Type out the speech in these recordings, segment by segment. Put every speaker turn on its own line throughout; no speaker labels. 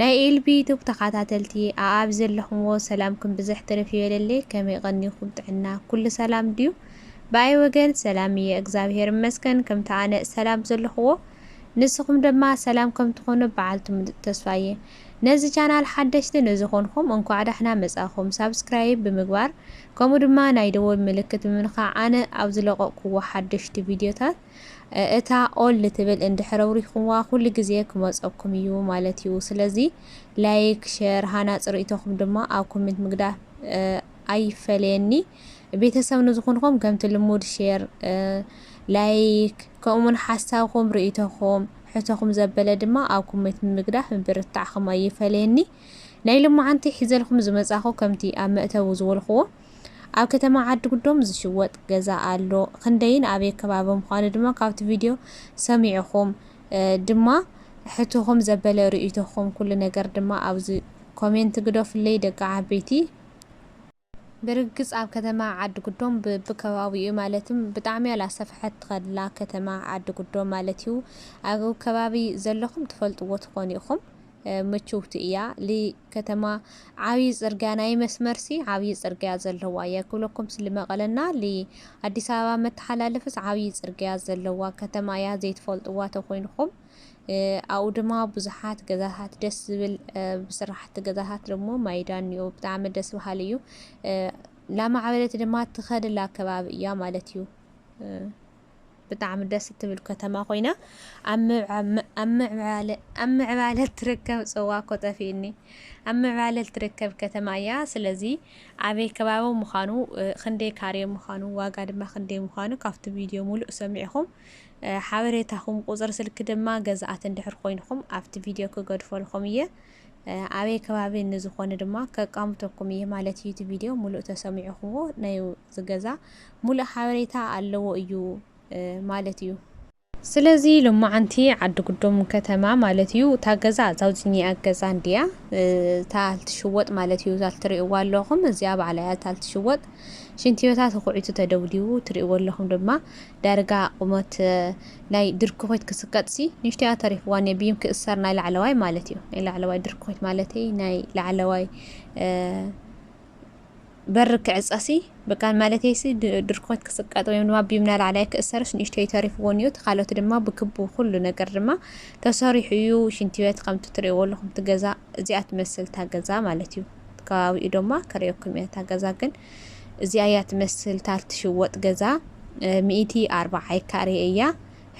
ናይ ኤልቢ ዩቱብ ተኻታተልቲ ኣኣብ ዘለኹምዎ ሰላምኩም ብዝሕ ትርፍ ይበለለይ ከመይ ቐኒኹም ጥዕና ኩሉ ሰላም ድዩ ብኣይ ወገን ሰላም እየ እግዛብሄር እመስገን ከምቲ ኣነ እሰላም ዘለኹዎ ንስኹም ደማ ሰላም ከምትኾኑ ብዓልቲ ሙሉጥ ተስፋ እየ ነዚ ቻናል ሓደሽቲ ንዝኾንኹም እንኳዕ ዳሕና መፃእኹም ሳብስክራይብ ብምግባር ከምኡ ድማ ናይ ደወል ምልክት ብምንኻዕ ኣነ ኣብዝለቐቕኩዎ ሓደሽቲ ቪድዮታት እታ ኦል ልትብል እንድሕር ኣብሪክኩምዋ ኩሉ ግዜ ክመጸኩም እዩ ማለት እዩ ስለዚ ላይክ ሸር ሃናጺ ርእይቶኹም ድማ ኣብ ኮሜንት ምግዳፍ ኣይፈለየኒ ቤተሰብ ንዝኹንኹም ከምቲ ልሙድ ሸር ላይክ ከምኡውን ሓሳብኹም ርእይቶኹም ሕቶኹም ዘበለ ድማ ኣብ ኮሜንት ምግዳፍ ምብርታዕኹም ኣይፈለየኒ ናይ ሎማዓንቲ ሒዘልኩም ዝመጻኹ ከምቲ ኣብ መእተዊ ዝበልኩዎ ኣብ ከተማ ዓዲ ጉዶም ዝሽወጥ ገዛ ኣሎ ክንደይን ኣበይ ከባቢ ምኳኑ ድማ ካብቲ ቪድዮ ሰሚዕኹም ድማ ሕትኹም ዘበለ ርእይቶኹም ኩሉ ነገር ድማ ኣብዚ ኮሜንት ግደፉለይ ደቂ ዓበይቲ። ብርግጽ ኣብ ከተማ ዓዲ ጉዶም ብቢ ከባቢኡ ማለትም ብጣዕሚ ኣላሰፍሐት ትኸድላ ከተማ ዓዲ ጉዶም ማለት እዩ ኣብ ከባቢ ዘለኹም ትፈልጥዎ ትኾኑ ኢኹም። ምችውቲ እያ ልከተማ ዓብዪ ፅርግያ ናይ መስመርሲ ዓብዪ ፅርግያ ዘለዋ እያ ክብለኩምስ ልመቐለና ልኣዲስ ኣበባ መተሓላለፍስ ዓብዪ ፅርግያ ዘለዋ ከተማ እያ ዘይትፈልጥዋ ተኮይንኹም ኣብኡ ድማ ብዙሓት ገዛታት ደስ ዝብል ብስራሕቲ ገዛታት ደሞ ማይዳ እኒኦ ብጣዕሚ ደስ በሃሊ እዩ ላማዕበለት ድማ ትኸድላ ከባቢ እያ ማለት እዩ ብጣዕሚ ደስ እትብል ከተማ ኮይና ኣብ ምዕባለ እትርከብ ፅዋ እኮ ጠፊእኒ ኣብ ምዕባለ እትርከብ ከተማ እያ። ስለዚ ኣበይ ከባቢ ምዃኑ ክንደይ ካሬ ምዃኑ ዋጋ ድማ ክንደይ ምዃኑ ካብቲ ቪድዮ ሙሉእ ሰሚዕኹም ሓበሬታኹም ቁፅሪ ስልኪ ድማ ገዛኣት እንድሕር ኮይንኹም ኣብቲ ቪድዮ ክገድፈልኹም እየ። ኣበይ ከባቢ ንዝኾነ ድማ ከቃምተኩም እየ ማለት እዩ። እቲ ቪድዮ ሙሉእ ተሰሚዕኹምዎ ናይ እዚ ገዛ ሙሉእ ሓበሬታ ኣለዎ እዩ ማለት እዩ። ስለዚ ሎማዓንቲ ዓዲ ጉዶም ከተማ ማለት እዩ እታ ገዛ እዛው ዝኒኣ ገዛ እንድያ እታ ትሽወጥ ማለት እዩ። እዛ ትሪእዋ ኣለኹም እዚኣ ባዕላ እያ እታ ትሽወጥ ሽንቲ ቤታ ተኹዒቱ ተደብዲቡ ትሪእዎ ኣለኹም ድማ ዳርጋ ቁመት ናይ ድርኩኺት ክስከጥሲ ንእሽቶያ ተሪፍዋ ን ቢም ክእሰር ናይ ላዕለዋይ ማለት እዩ ናይ ላዕለዋይ ድርኩኺት ማለተይ ናይ ላዕለዋይ በሪ ክዕጸሲ ብቃን ማለተይሲ ድርኩኺት ክስቀጥ ወይም ድማ ቢም ናይ ላዕለዋይ ክእሰርስ ንእሽቶይ ተሪፍዎን እዩ ተካሎት ድማ ብክቡ ኩሉ ነገር ድማ ተሰሪሑ እዩ ሽንቲ ቤት ከምቲ ትሪእዎ ኣለኹም ትገዛ እዚኣ ትመስል ታገዛ ማለት እዩ ከባቢኡ ድማ ከሪኦኩም እያ ታገዛ ግን እዚኣ እያ ትመስል ታል ትሽወጥ ገዛ ሚእቲ ኣርባዓይ ካሬ እያ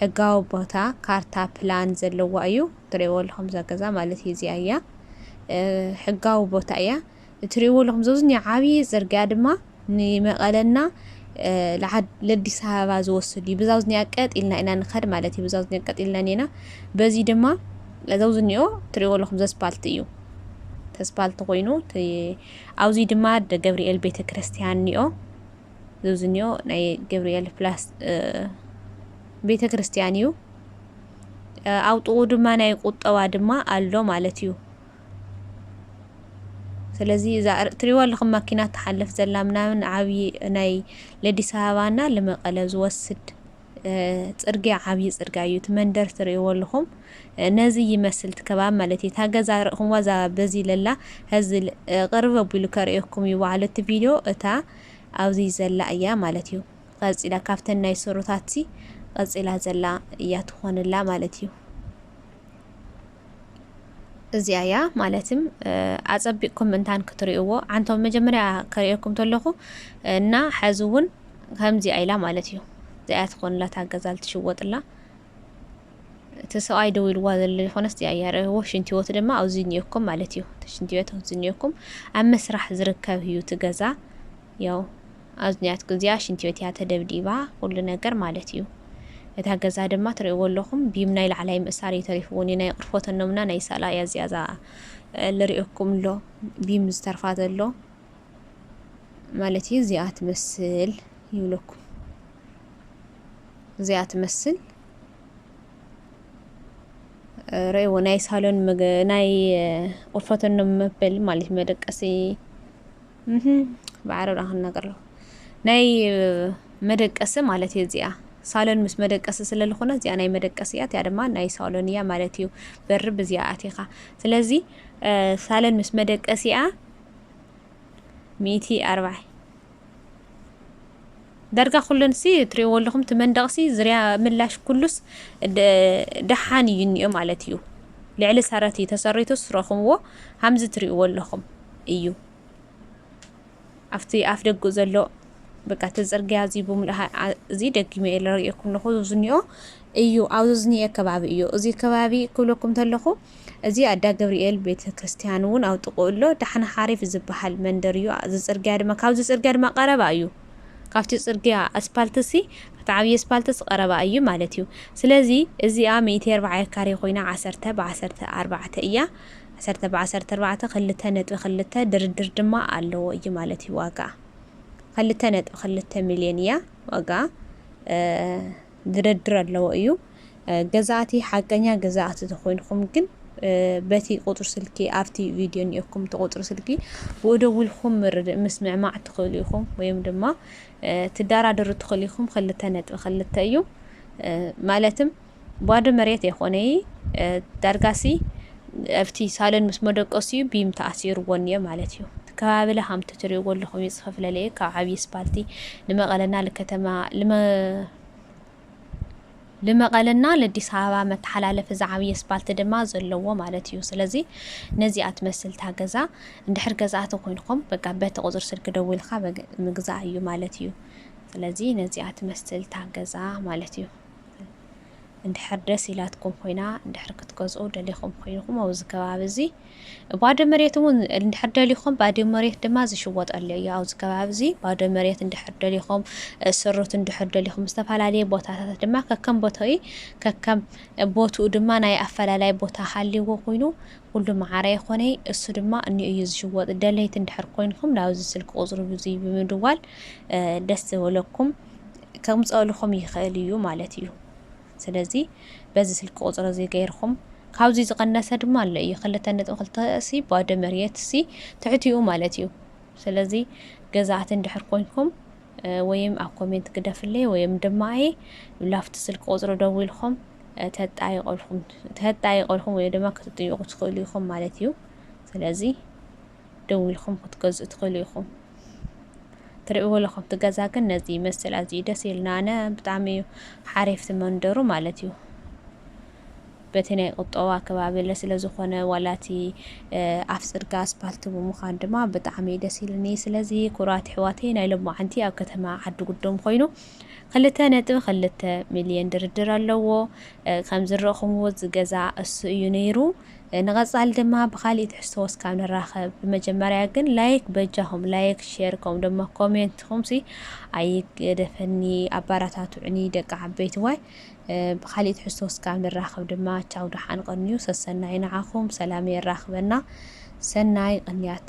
ሕጋዊ ቦታ ካርታ ፕላን ዘለዋ እዩ ትሪእዎ ኣለኹም እዛ ገዛ ማለት እዩ እዚኣ እያ ሕጋዊ ቦታ እያ እትሪእዎ ኣለኹም ዘብዝኒ ዓብዪ ፅርግያ ድማ ንመቐለና ለአዲስ አበባ ዝወስድ እዩ ብዛው ዝኒኣ ቀጥ ኢልና ኢና ንኸድ ማለት እዩ ብዛው ዝኒኣ ቀጥ ኢልና ኔና በዚ ድማ ዘው ዝኒኦ ትሪእዎ ኣለኹም ዘስፓልት እዩ ተስፓልት ኮይኑ ኣውዙይ ድማ ኣደ ገብሪኤል ቤተ ክርስትያን ኒኦ ዝብዚ ኒኦ ናይ ገብሪኤል ፕላስ ቤተ ክርስትያን እዩ ኣውጥኡ ድማ ናይ ቁጠባ ድማ ኣሎ ማለት እዩ ስለዚ እዛ እትሪእዎ ኣለኹም ማኪና ትሓልፍ ዘላ ምናምን ዓብዪ ናይ ለዲስ ኣበባና ልመቀለ ዝወስድ ጽርግያ ዓብይ ጽርግያ እዩ እቲ መንደር ትርእይዎ ኣለኹም ነዚ ይመስል እቲ ከባቢ ማለት እዩ እታ ገዛ ርእኹምዋ እዛ በዚ ለላ ሀዚ ቅርብ ኣቢሉ ከርእየኩም እዩ ባዕሉ እቲ ቪድዮ እታ ኣብዚ ዘላ እያ ማለት እዩ ቀጺላ ካብተን ናይ ስሩታትሲ ቀጺላ ዘላ እያ ትኾንላ ማለት እዩ እዚኣ እያ ማለትም ኣጸቢቕኩም እንታን ክትርእዎ ዓንቶም መጀመርያ ከርእየኩም ተለኹ እና ሐዚ እውን ከምዚኣ ኢላ ማለት እዩ እዚኣ ትኾንላ ታገዛል ትሽወጥላ እቲ ሰብኣይ ደው ኢልዋ ዘሎ ዝኾነስ እዚኣ እያ ርእይዎ ሽንቲ ህይወት ድማ ኣብዚ እኒኦኩም ማለት እዩ ሽንቲ ህይወት ኣብዚ እኒኦኩም ኣብ መስራሕ ዝርከብ እዩ እቲ ገዛ ያው ኣዝንያት ግዝያ ሽንቲ ቤት እያ ተደብዲባ ኩሉ ነገር ማለት እዩ እታ ገዛ ድማ ትሪእዎ ኣለኹም ቢም ናይ ላዕላይ ምእሳር እዩ ተሪፍዎ ኒናይ ቅርፎት እኖምና ናይ ሳላ እያ እዚኣ እዛ ልሪኦኩም ኣሎ ቢም ዝተርፋ ዘሎ ማለት እዩ እዚኣ ትመስል ይብለኩም እዚኣ ትመስል ረእዎ ናይ ሳሎን ናይ ቁርፈተኖም መበል ማለት መደቀሲ ብዓረብ ዳን ክናገር ኣለኹ ናይ መደቀሲ ማለት እዩ እዚኣ ሳሎን ምስ መደቀሲ ስለ ዝኾነ እዚኣ ናይ መደቀሲ እያ እቲኣ ድማ ናይ ሳሎን እያ ማለት እዩ በሪ ብዚኣ ኣቲኻ ስለዚ ሳሎን ምስ መደቀሲኣ ሚእቲ ኣርባዕ ዳርጋ ኩለንሲ ትሪእዎ ኣለኹም እቲ መንደቕሲ ዝርያ ምላሽ ኩሉስ ደሓን እዩ እኒኦ ማለት እዩ ልዕሊ ሰረት እዩ ተሰሪቱስ ረኹምዎ ሃምዚ ትሪእዎ ኣለኹም እዩ ኣብቲ ኣፍ ደጉ ዘሎ በቃ እቲ ፅርግያ እዚ ብምሉእ እዚ ደጊመ እየ ዝርእየኩም ኣለኹ ዝኒኦ እዩ ኣብዚ ዝኒኤ ከባቢ እዩ እዚ ከባቢ ክብለኩም እንተለኹ እዚ ኣዳ ገብርኤል ቤተ ክርስቲያን እውን ኣብ ጥቕኡ ኣሎ ዳሕና ሓሪፍ ዝበሃል መንደር እዩ እዚ ፅርግያ ድማ ካብዚ ፅርግያ ድማ ቀረባ እዩ ካብቲ ጽርግያ፣ ኣስፓልትሲ፣ እቲ ዓብዪ ኣስፓልትስ ቐረባ እዩ ማለት እዩ። ስለዚ እዚኣ ሚእቲ ኣርባዕየ ካሬ ኮይና ዓሰርተ ብ ዓሰርተ ኣርባዕተ እያ። ዓሰርተ ብ ዓሰርተ ኣርባዕተ ክልተ ነጥቢ ክልተ ድርድር ድማ ኣለዎ እዩ ማለት እዩ ዋጋኣ። ክልተ ነጥቢ ክልተ ሚልዮን እያ ዋጋኣ። ግደድር ኣለዎ እዩ ገዛእቲ ሓቀኛ ገዛእቲ ተኮይንኩም ግን በቲ ቁፅሪ ስልኪ ኣብቲ ቪድዮ እኒኦኩም እቲ ቁፅሪ ስልኪ ብኡ ደዊልኩም ምርድእ ምስምዕማዕ ትኽእሉ ኢኹም ወይም ድማ ትደራደሩ ትኽእሉ ኢኹም ክልተ ነጥቢ ክልተ እዩ ማለትም ባዶ መሬት የኾነይ ዳርጋሲ ኣብቲ ሳሎን ምስ መደቀሲኡ ቢም ተኣሲርዎ እኒኦ ማለት እዩ። እቲ ከባቢ ለ ከምቲ ትሪእዎ ኣለኹም እዩ ዝኸፍለለ እዩ ካብ ዓብዪ ስፓልቲ ንመቐለና ልከተማ ልመ ልመቐለና ለዲስ ኣበባ መተሓላለፊ ዝዓብየ ስፓልቲ ድማ ዘለዎ ማለት እዩ። ስለዚ ነዚኣ ትመስል እታ ገዛ እንድሕር ገዛእቲ ኮይንኩም በቃ በቲ ቁፅሪ ስልኪ ደዊልካ ምግዛእ እዩ ማለት እዩ። ስለዚ ነዚኣ ትመስል እታ ገዛ ማለት እዩ። እንድሕር ደስ ኢላትኩም ኮይና እንድሕር ክትገዝኡ ደሊኹም ኮይንኹም ኣብዚ ከባቢ እዚ ባዶ መሬት እውን እንድሕር ደሊኹም ባዶ መሬት ድማ ዝሽወጠሉ እዩ። ኣብዚ ከባቢ እዚ ባዶ መሬት እንድሕር ደሊኹም ስሩት እንድሕር ደሊኹም ዝተፈላለየ ቦታታት ድማ ከከም ቦታኡ ከከም ቦትኡ ድማ ናይ ኣፈላላይ ቦታ ሃልዎ ኮይኑ ኩሉ መዓረ ይኾነ እሱ ድማ እኒ እዩ ዝሽወጥ። ደለይቲ እንድሕር ኮይንኩም ናብዚ ስልክ ቁፅሪ ብዙይ ብምድዋል ደስ ዝበለኩም ከምፀእልኹም ይኽእል እዩ ማለት እዩ ስለዚ በዚ ስልኪ ቁፅሪ እዚ ገይርኹም ካብዚ ዝቐነሰ ድማ ኣሎ እዩ ክልተ ነጥቢ ክልተ ሲ ባዶ መሬት ሲ ትሕቲኡ ማለት እዩ ስለዚ ገዛእቲ እንድሕር ኮንኩም ወይም ኣብ ኮሜንት ግደፍለይ ወይም ድማ ኣየ ላፍቲ ስልኪ ቁፅሪ ደዊልኩም ተጣይቆልኩም ተጣይቆልኩም ወይ ድማ ክትጥይቁ ትኽእሉ ኢኹም ማለት እዩ ስለዚ ደዊልኩም ክትገዝኡ ትኽእሉ ኢኹም። ትርእይዎ ኣለኹም እቲ ገዛ ግን ነዚ ይመስል ኣዝዩ ደስ ኢልና ኣነ ብጣዕሚ እዩ ሓሪፍቲ መንደሩ ማለት እዩ በቲ ናይ ቁጠባ ከባቢ ስለ ዝኾነ ዋላቲ ኣብ ፅርጋ ኣስፓልቲ ብምዃን ድማ ብጣዕሚ ደስ ኢልኒ ስለዚ ኩራት ሕዋተይ ናይ ሎማዓንቲ ኣብ ከተማ ዓዲ ጉዶም ኮይኑ ክልተ ነጥቢ ክልተ ሚልዮን ድርድር ኣለዎ ከም ዝረእኹምዎ ዝገዛ እሱ እዩ ነይሩ ንቐጻሊ ድማ ብኻሊእ ትሕዝቶ ወስካብ ንራኸብ ብመጀመርያ ግን ላይክ በጃኹም ላይክ ሼር ከምኡ ድማ ኮሜንትኹምሲ ኣይገደፈኒ ኣባራታቱዕኒ ደቂ ዓበይትዋይ ብኻሊእ ትሕዝቶ ወስካብ ንራኸብ ድማ ቻው ደሓን ቐንዩ ሰሰናዩ ንዓኹም ሰላም የራኽበና ሰናይ ቕንያት